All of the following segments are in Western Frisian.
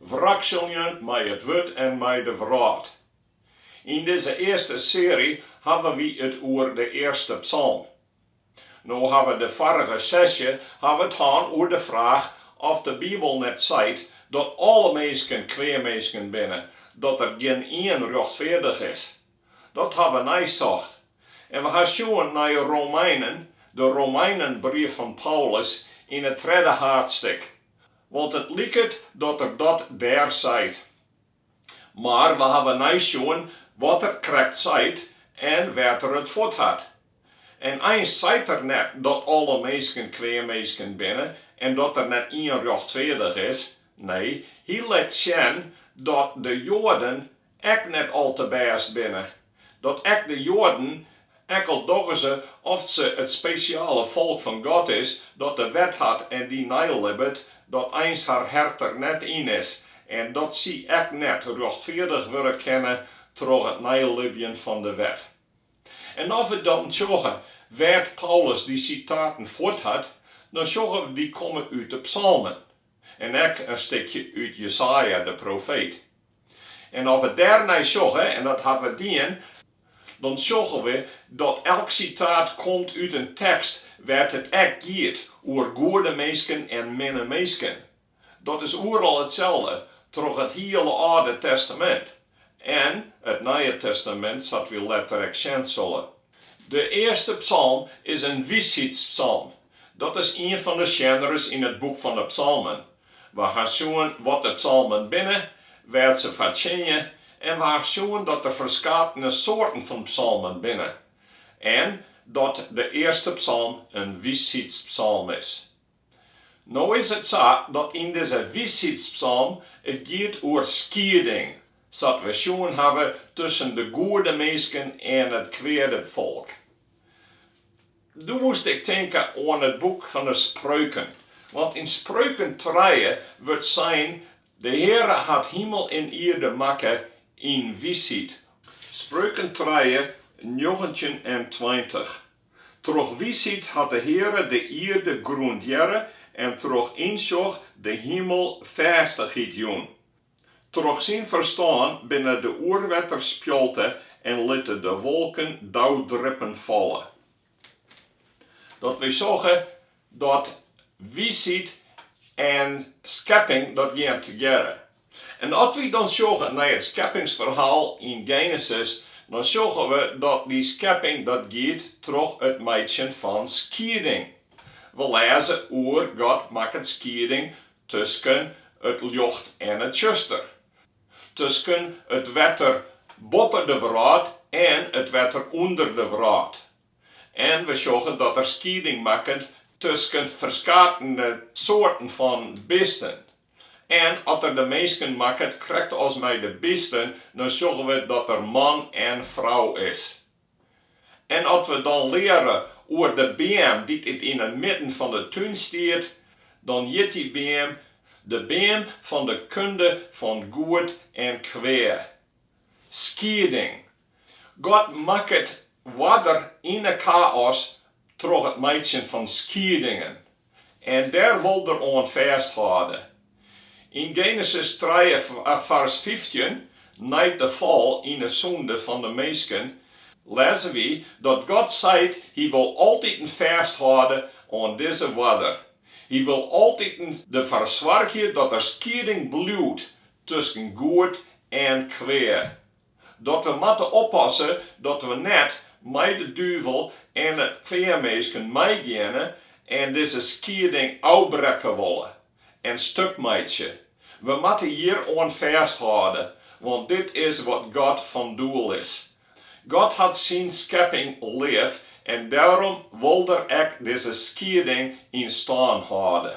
Wrakseljen mei it wurd en mei de wrâld. Yn dizze earste searje hawwe wy it oer de earste psalm. No ha we de foarige sesje ha we it hân oer de fraach oft de Bibel net seit dat alle minsken kwea minsken binne, dat der gjin ien rjochtfeardich is. Dat ha we neisocht. En we ha sjoen nei Romeinen, de Romeinenbrief fan Paulus yn it tredde haadsttik. Want it liket dat er dat dêr seit. Mar we hawwe neisjoen wat er krekt seit en wêr't er it fuort hat. En eins seit er net dat alle minsken kwea minsken binne en dat der net ien rjochtfeardich is, nee, hy let sjen dat de Joaden ek net al te bêst binne, dat ek de Joaden, ek al dogge se oft se it spesjale folk fan God is, dat de wet hat en dy neilibbet, dat eins har hert der net yn is en dat sy ek net rjochtfeardich wurde kinne troch it neilibjen fan de wet. En as we dan sjogge wêr't Paulus dy sitaten fuort hat, dan sjogge we dy komme út de psalmen en ek in stikje út Jesaja de profeet. En as we dêrnei sjogge, en dat hawwe we dien, dan sjogge we dat elk sitaat komt út in tekst wêr't it ek giet oer goede minsken en minne minsken. Dat is oeral itselde, troch it hiele Alde Testamint en it Nije Testamint, sa't we letter ek sjen sille. De earste psalm is in wysheidspsalm. Dat is ien fan de sjenres yn it boek fan de Psalmen. Wy ha sjoen wat de psalmen binne, wêr't se foar tsjinje en wy ha sjoen dat der ferskatene soarten fan psalmen binne en dat de earste psalm in wysheidspsalm is. No is it sa dat yn dizze wysheidspsalm it giet oer skieding, sa't we sjoen hawwe, tusken de goede minsken en it kweade folk. Doe moast ik tinke oan it boek fan 'e Spreuken, want yn Spreuken trije wurdt sein, De Heare hat himel en ierde makke yn wysheid. Spreuken trije, njoggentjin en tweintich, Troch wysheid hat de Heare de ierde grûndearre en troch ynsjoch de himel fêstichheid jûn. Troch syn ferstân binne de oerwetters spjalte en litte de wolken dauwdrippen falle. Dat we sjogge dat wiisheid en skepping dat gean tegearre. En as wy dan sjogge nei it skeppingsferhaal yn Genesis, dan sjogge we dat dy skepping dat giet troch it meitsjen fan skieding. We lêze oer God makket skieding tusken it ljocht en it tsjuster. Tusken it wetter boppe de wrâld en it wetter ûnder de wrâld. En we sjogge dat er skieding makket tusken ferskatene soarten fan bisten. En at er de minsken makket krekt as mei de bisten, dan sjogge we dat er man en frou is. En at we dan leare oer de beam dy't yn 'e midden fan 'e tún stiet, dan hjit dy beam de beam fan de kunde fan goed en kwea. Skieding. God makket oarder yn 'e gaos troch it meitsjen fan skiedingen. En dêr wol er oan fêsthâlde. Yn Genesis trije fars fyftjin, nei't de fal yn de sûnde fan de minsken, lêze wy dat God seit, Hy wol altiten fêsthâlde oan dizze oarder. Hy wol altiten derfoar soargje dat der skieding bliuwt tusken goed en kwea. Dat we moatte oppasse dat we net mei de duvel en it kwea minsken meigeane en dizze skieding ôfbrekke wolle en stuk meitsje. We moatte hjir oan fêsthâlde, want dit is wat God fan doel is. God hat syn skepping leaf en dêrom wol Er ek dizze skieding yn stân hâlde.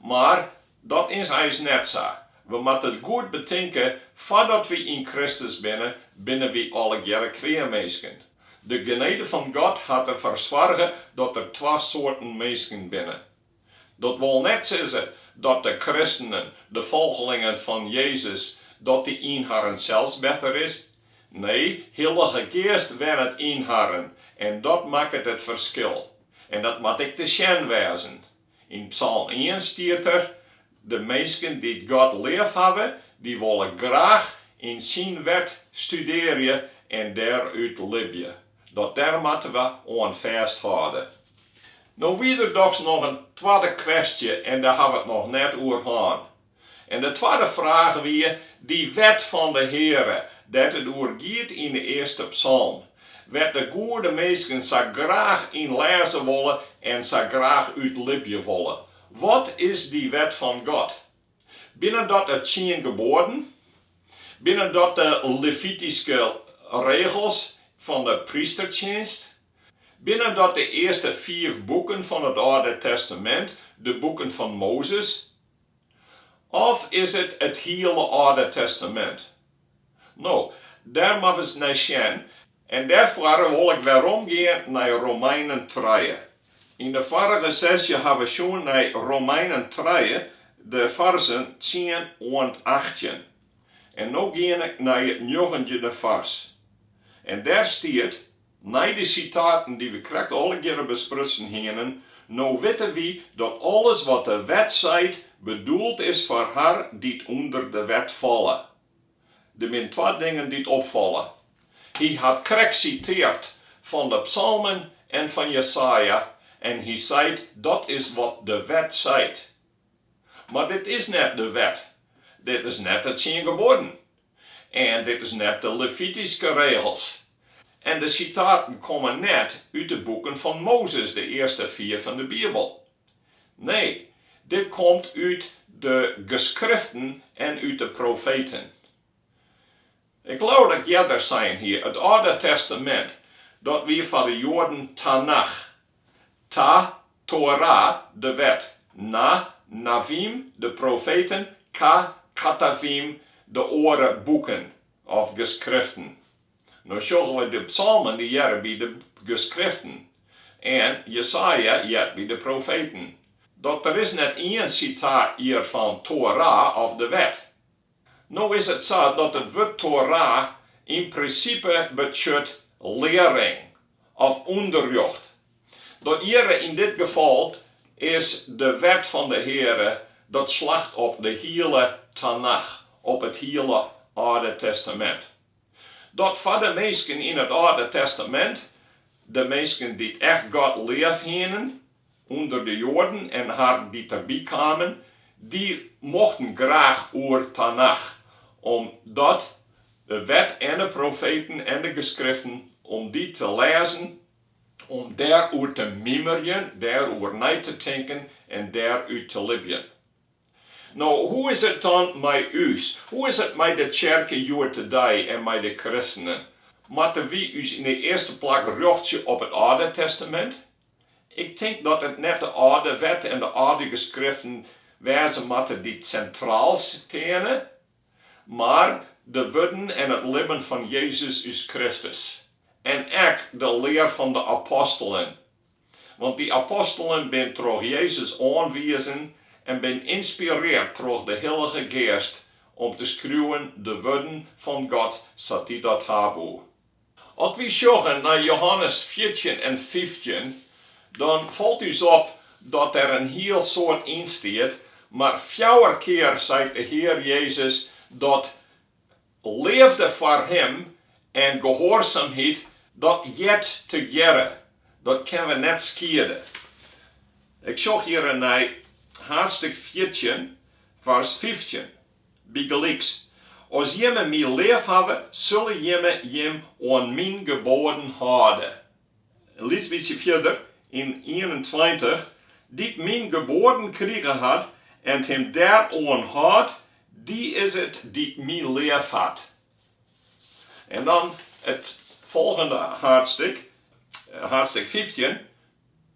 Mar dat is eins net sa. We moatte it goed betinke, foardat we yn Kristus binne, binne we allegearre kwea minsken. De genede fan God hat der foar soarge dat der twa soarten minsken binne. Dat wol net sizze dat de kristenen, de folgelingen fan Jezus, dat dy yn harren sels better is. Nee, Hillige Geast wennet yn harren en dat makket it ferskil. En dat moat ek te sjen wêzen. Yn psalm ien stiet der, De minsken dy't God leafhawwe, dy wolle graach yn syn wet studearje en dêrút libje. Dat dêr moatte we oan fêsthâlde. No wie der dochs noch in twadde kwestje en dêr ha we it noch net oer hân. En de twadde fraach wie, Dy wet fan de Heare, dêr't it oer giet yn de earste psalm, wêr't de goede minsken sa graach yn lêze wolle en sa graach út libje wolle, wat is dy wet fan God? Binne dat de tsien geboaden? Binne dat de Levityske regels fan de prystertsjinst? Binne dat de earste fiif boeken fan it Alde Testamint, de boeken fan Mozes? Of is it it hiele Alde Testamint? No, dêr moatte we ris nei sjen. En dêrfoar wol ik weromgean nei Romeinen trije. Yn de foarige sesje ha we sjoen nei Romeinen trije, de farzen tsien oant achttjin. En no gean ik nei it njoggentjinde fars. En dêr stiet, Nei de sitaten dy't we krekt allegearre besprutsen hienen, no witte wy dat alles wat de wet seit, bedoeld is foar har dy't ûnder de wet falle. Der binne twa dingen dy't opfalle. Hy hat krekt siteard fan de psalmen en fan Jesaja en hy seit dat is wat de wet seit. Mar dit is net de wet, dit is net de tsien geboaden en dit is net de Levityske regels. En de sitaten komme net út de boeken fan Mozes, de earste fjouwer fan de Bibel. Nee, dit komt út de Geskriften en út de profeten. Ik leau dat ik earder sein hie, it Alde Testamint, dat wie foar de Joaden Tanach, Ta, Tora, de Wet, Na, Navim, de profeten, Ka, Katavim, de oare boeken of geskriften. No sjogge we de psalmen dy hearre by de geskriften, en Jesaja heart by de profeten. Dat der is net ien sitaat hjir fan Tora of de Wet. No is it sa dat it wurd Torah yn prinsipe betsjut learing of ûnderrjocht. Dat hjirre yn dit gefal is de Wet fan de Heare, dat slacht op de hiele Tanach, op it hiele Alde Testamint. Dat foar de minsken yn it Alde Testamint, de minsken dy't echt God leaf hienen, Under de Joaden en har dy't derby kamen, dy mochten graach oer Tanach, om dat de wet en de profeten en de geskriften, om dy te lêzen, om dêr oer te mimerjen, dêr oer nei te tinken en dêr út te libjen. No, hoe is it dan mei ús? Hoe is it mei de tsjerke hjoed-de-dei en mei de kristenen? Moatte wy ús yn 'e earste plak rjochtsje op it Alde Testamint? Ik tink dat it net de âlde wet en de âlde geskriften wêze moatte dy't sintraal steane, mar de wurden en it libben fan Jezus ús Kristus. En ek de lear fan de apostelen. Want dy apostelen binne troch Jezus oanwizen en binne ynspireard troch de Hillige Geast om te skriuwen de wurden fan God sa't Hy dat ha woe. As wy sjogge nei Jehannes fjirtjin en fyftjin, dan falt ús op dat der in hiel soad yn stiet, mar fjouwer kear seit de Hear Jezus dat leafde foar Him en gehoarsamheid dat heart tegearre, dat kinne we net skiede. Ik sjoch hjirren nei haadstik fjirtjin, fars fyftjin. Bygelyks, as jimme my leafhawwe, sulle jimme jim oan myn geboaden hâlde. Lyts bytsje fierder yn ienentweintich, Dy't myn geboaden krige hat en dy't him dêroan hâldt, dy is it dy't my leafhat. En dan it folgjende haadstik, haadstik fyftjin,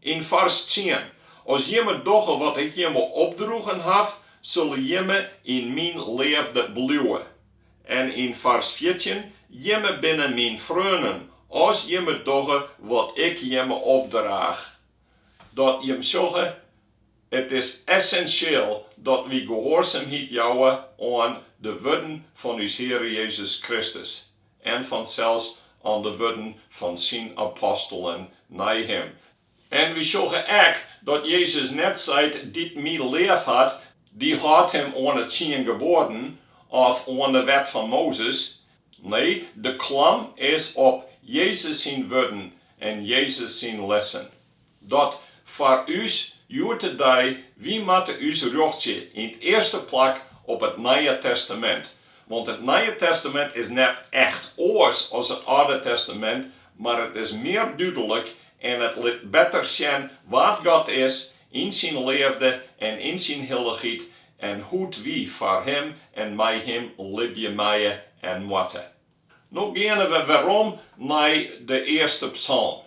Yn fars tsien, As jimme dogge wat ik jimme opdroegen haw, sulle jimme yn myn leafde bliuwe. En yn fars fjirtjin, Jimme binne myn freonen, as jimme dogge wat ik jimme opdraach. Dat jimme sjogge, It is essensjeel dat wy gehoarsamheid jouwe oan de wurden fan ús Heare Jezus Kristus. en fansels oan de wurden fan syn apostelen nei him. En wy sjogge ek dat Jezus net seit, Dy't my leaf hat, dy hâldt him oan 'e tsien geboaden of oan de wet fan Mozes. Nee, de klam is op Jezus syn wurden en Jezus syn lessen. Dat foar ús hjoed-de-dei, wy moatte ús rjochtsje yn 't earste plak op it Nije Testamint, want it Nije Testamint is net echt oars as it Alde Testamint, mar it is mear dúdlik en it lit better sjen wa't God is yn syn leafde en yn syn hillichheid en hoe't wy foar Him en mei Him libje meie en moatte. No geane we werom nei de earste psalm.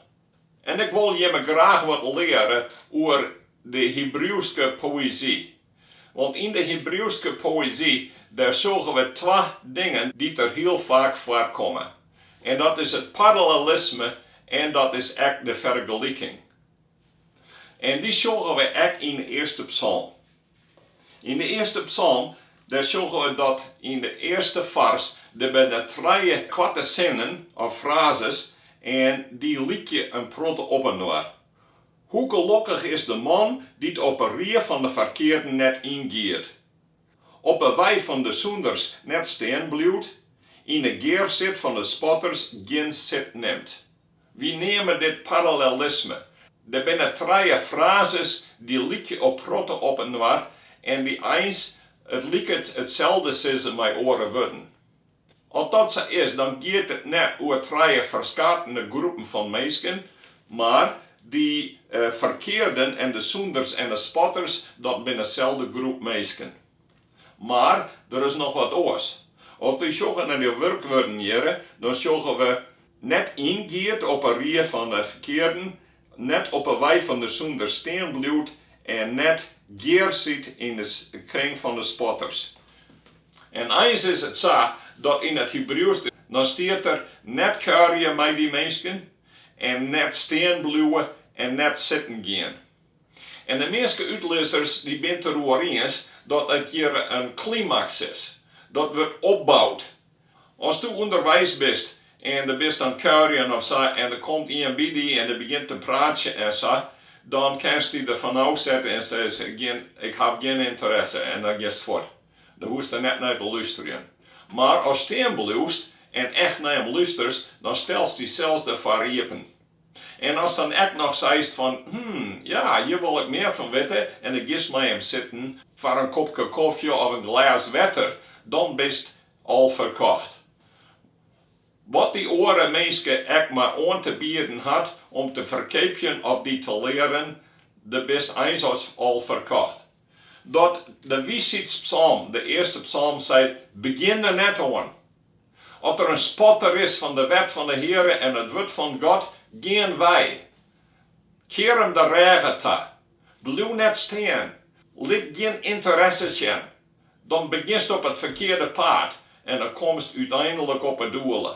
En ik wol jimme graach wat leare oer de Hibriuwske poëzy. Want yn de Hibriuwske poëzy, dêr sjogge we twa dingen dy't der hiel faak foarkomme. En dat is it parallelisme en dat is ek de fergeliking. En dy sjogge we ek yn de earste psalm. Yn de earste psalm, dêr sjogge we dat yn de earste fars der binne trije koarte sinnen of frazes en dy lykje in protte op inoar. Hoe gelokkich is de man dy't op 'e rie fan de ferkearden net yngiet, op 'e wei fan de sûnders net stean bliuwt, yn 'e gearsit fan 'e spotters gjin sit nimt. Wy neame dit parallellisme. Der binne trije frazes dy't lykje in protte op inoar en dy eins it liket itselde sizze mei oare wurden. As dat sa is, dan giet it net oer trije ferskatene groepen fan minsken, mar dy ferkearden en de sûnders en de spotters, dat binne deselde groep minsken. Mar der is noch wat oars. As wy sjogge nei de wurkwurden hjirre, dan sjogge we net yngiet op 'e rie fan 'e ferkearden, net op 'e wei fan 'e sûnders stean bliuwt en net gearsit yn 'e kring fan 'e spotters. En eins is it sa dat yn it Hibriuwsk dan stiet der, net kuierje mei dy minsken en net stean bliuwe en net sitten gean. En de measte útlizzers dy binne it der oer iens dat it hjir in klimaks is. Dat wurdt opboud. As do ûnderweis bist en do bist oan it kuierjen of sa en der komt ien by dy en dy begjint te praten en sa, dan kinst dy der fan ôf sette en sizze, ik haw gjin ynteresse en dan giest fuort. Dan hoechst der net nei te lústerjen. Mar as stean bliuwst en echt nei him lústerst, dan stellst dy sels derfoar iepen. En ast dan ek noch seist fan, hm, ja, hjir wol ik mear fan witte en do giest mei him sitten foar in kopke kofje of in glês wetter, dan bist al ferkocht. Wat dy oare minske ek mar oan te bieden hat om te ferkeapjen of dy te learen, do bist eins al ferkocht. Dat de Wysheidspsalm, de earste psalm, seit, Begjin der net oan. As der in spotter is fan de wet fan de Heare en it wurd fan God, gean wei. Kear him de rêge ta. Bliuw net stean. Lit gjin ynteresse sjen. Dan begjinst op it ferkearde paad en dan komst úteinlik op 'e doele.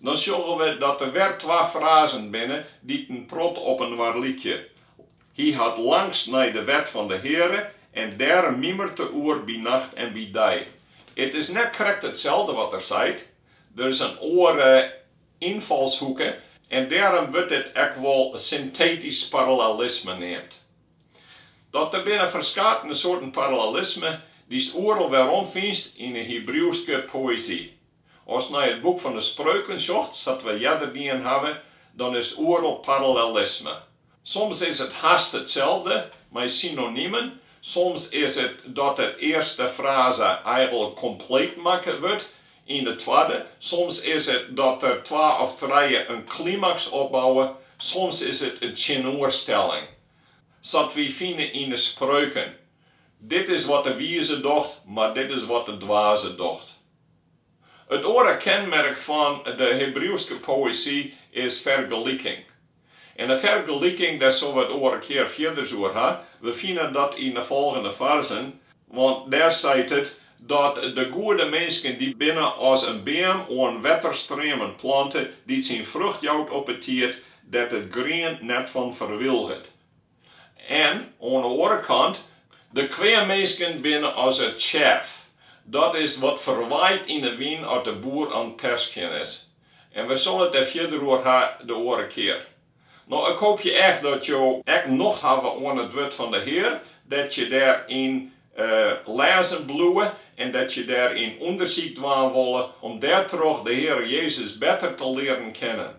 Dan sjogge we dat der wer twa frazen binne dy't in protte op inoar lykje, Hy hat langst nei de wet fan de Heare en dêrom mimeret er oer by nacht en by dei. It is net krekt itselde wat er seit, der is in oare ynfalshoeke en dêrom wurdt dit ek wol syntetysk parallellisme neamd. Dat der binne ferskatene soarten parallellisme dy'st oeral werom fynst yn 'e Hibriuwske poëzy. Ast nei it boek fan 'e Spreuken sjocht, sa't we earder dien hawwe, dan is oeral parallellisme. Soms is it hast itselde, mei synonimen, soms is it dat de earste fraze eigenlik kompleet makke wurdt yn de twadde, soms is it dat der twa of trije in klimaks opbouwe, soms is it in tsjinoerstelling. Sa't wy fine yn 'e Spreuken, Dit is wat de wize docht, mar dit is wat de dwaze docht. It oare kenmerk fan de Hebriuwske poëzy is fergeliking. En de fergeliking, dêr sille we it oare kear fierders oer ha. We fine dat yn de folgjende fersen, want dêr seit it dat de goede minsken dy binne as in beam oan wetterstreamen plante, dy't syn frucht jout op 'e tiid, dêr't it grien net fan ferwilget. En oan de oare kant, de kwea minsken binne as it tsjef, dat is wat ferwaait yn de wyn as de boer oan 't terskjen is. En we sille it der fierder oer ha de oare kear. No, ik hoopje echt dat jo ek nocht hawwe oan it wurd fan de Hear, dat je dêryn lêzen bliuwe en dat je dêryn ûndersyk dwaan wolle, om dêrtroch de Heare Jezus better te learen kennen.